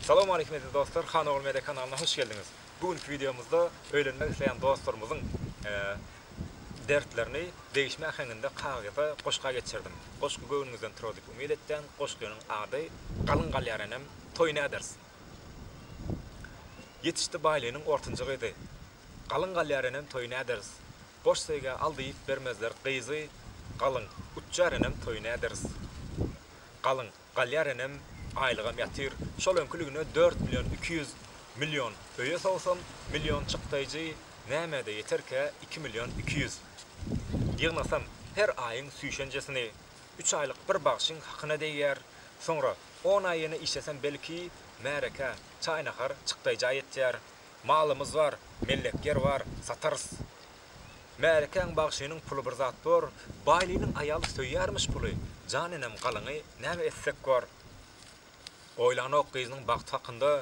Salam aleýkum eziz dostlar Han ogly media kanalyna hoş geldiňiz. Bu günki wideomyzda öýlenmek isleýän dostlarymyzyň dertlerini degişme äheňinde kagyza goşga geçirdim. Goşgy göwnüňizden turar diýip umyt etýän. Goşgynyň ady Galyň galýar enem, toý näders. Ýetişdi baýlynyň ortanjy gyzy. Galyň galýar enem, toý näders. Goş söýgä al diýip bermezler gyzy. Galyň uçýar enem, toý näders. Galyň Galýar enem, aýlygam ýatyr. Şol öňküligine dört million iki ýüz million öýe sowsam, million çykdaýjy nämä-de ýeterkä, iki million iki ýüz. Ýygnasam, her aýyň süýşenjesini, üç aýlyk bir bagşyň hakyna degýär. Soňra on aý ýene işlesem belki, märekä, çaý-nahar çykdaýja ýetýär. Malymyz bar, mellek ýer bar, satarys. Märekäň bagşynyň puly bir zat bor, Baýlynyň aýaly söýýärmiş puly, Jan enem galyňy näme etsek bor. Oýlanok gyzynyň bagty hakynda,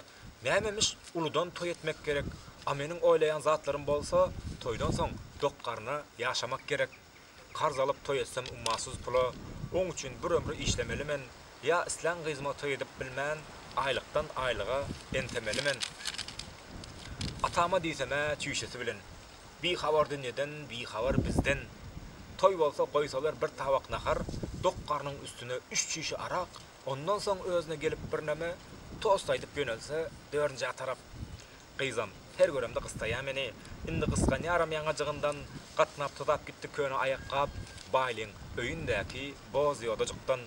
Nämemiş uludan toý etmek gerek, A meniň oýlaýan zatlarym bolsa, Toýdan soň dok garna ýaşamak gerek. Karz alyp toý etsem ummasyz pula, Oň üçin bir ömri işlemeli men, Ýa islän gyzyma toý edip bilmän, Aýlykdan aýlyga entemeli men. Atama diýsem-ä çüýşesi bilen, Bihabar dünýeden, bihabar bizden. Toý bolsa goýsalar bir tabak nahar, dok garnyň üstüne üç çişe arak, ondan soň özüne gelip birneme tost aýdyp ýönelse dördünjä tarap. Gyzam, her göremde gystaýa meni. Indi gysganýaram ýaňajygyndan gatnap tuzap gitdi köne aýakgap, Baýlyň öýündäki boz ýodajykdan.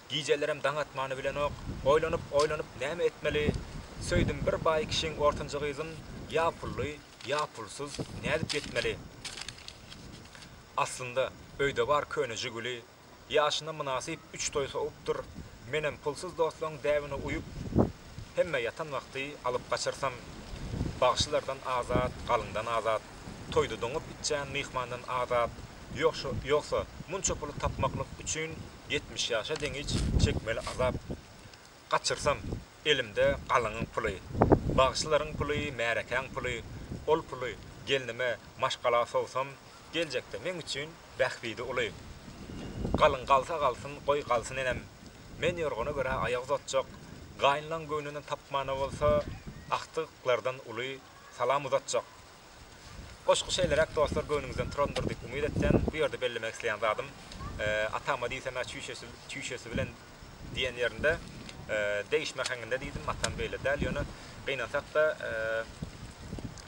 Gijelerem daň atmany bilenok. Oýlanyp-oýlanyp näme etmeli? Söýdüm bir baý kişiň ortanjy gyzyn, ýa pully, Ýa pulsuz nädip ýetmeli? Aslynda, öýde bar köne Žiguli, ýaşyna mynasyp üç toý sowupdyr, menem pulsuz dostlaryň däbine uýup, hemme ýatan wagty alyp gaçyrsam, bagşylardan azat, galyndan azat, toýda doňup içýän myhmandan azat, ýogsa, munça puly tapmaklyk üçin ýetmiş ýaşa deňiç çekmeli azap. Gaçyrsam, elimde galyňyň puly. Bagşylaryň puly, märekäň puly. Ol puly gelnime maşgala sowsam, geljekde meň üçin bähbidi uly. Galyň galsa galsyn, goý, galsyn enem. Men ýorgana görä aýak uzatjak. Gaýynlaň göwnünden tapmana bolsa, agtyklardan uly salam uzatjak. Goşgy şeýleräk dostlar göwnüňizden turandyr diýip umyt etýän, bu ýerde bellemek isleýän zadym, Atama diýsemä çüýşesi çüýşesi bilen diýen ýerinde degişme äheňinde diýdim, atam beýle däl, ýöne gynansakda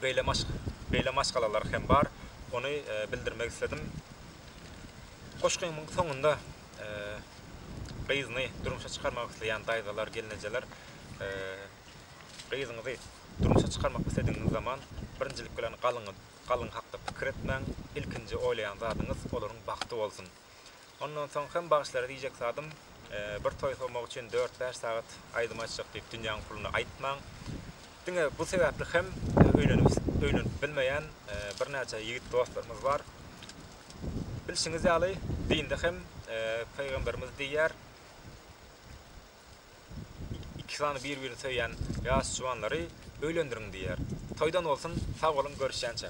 beýle maşk beýle maşgalalar hem bar, ony bildirmek isledim. Goşgymyň soňunda gyzyny durmuşa çykarmak isleýän daýzalar, gelnejeler, Gyzyňyzy durmuşa çykarmak isledigiňiz zaman, birinjilik bilen galyňyz, galyň hakda pikir etmäň, ilkinji oýlaýan zadyňyz olaryň bagty bolsun. Ondan soň hem bagşylara diýjek zadym, bir toý sowmak üçin dört-bäş sagat aýdym aýtjak diýip dünýäň puluny aýtmaň. Diňe bu sebäpli hem öýlenip bilmeýän birnäçe ýigit dostlarymyz bar. Bilşiňiz ýaly, dinde hem Pygamberimiz diýýär, Iki sany bir-birini söýýän ýaş juwanlary öýlendiriň diýýär. Toýdan bolsun, sag boluň, görüşýänçä!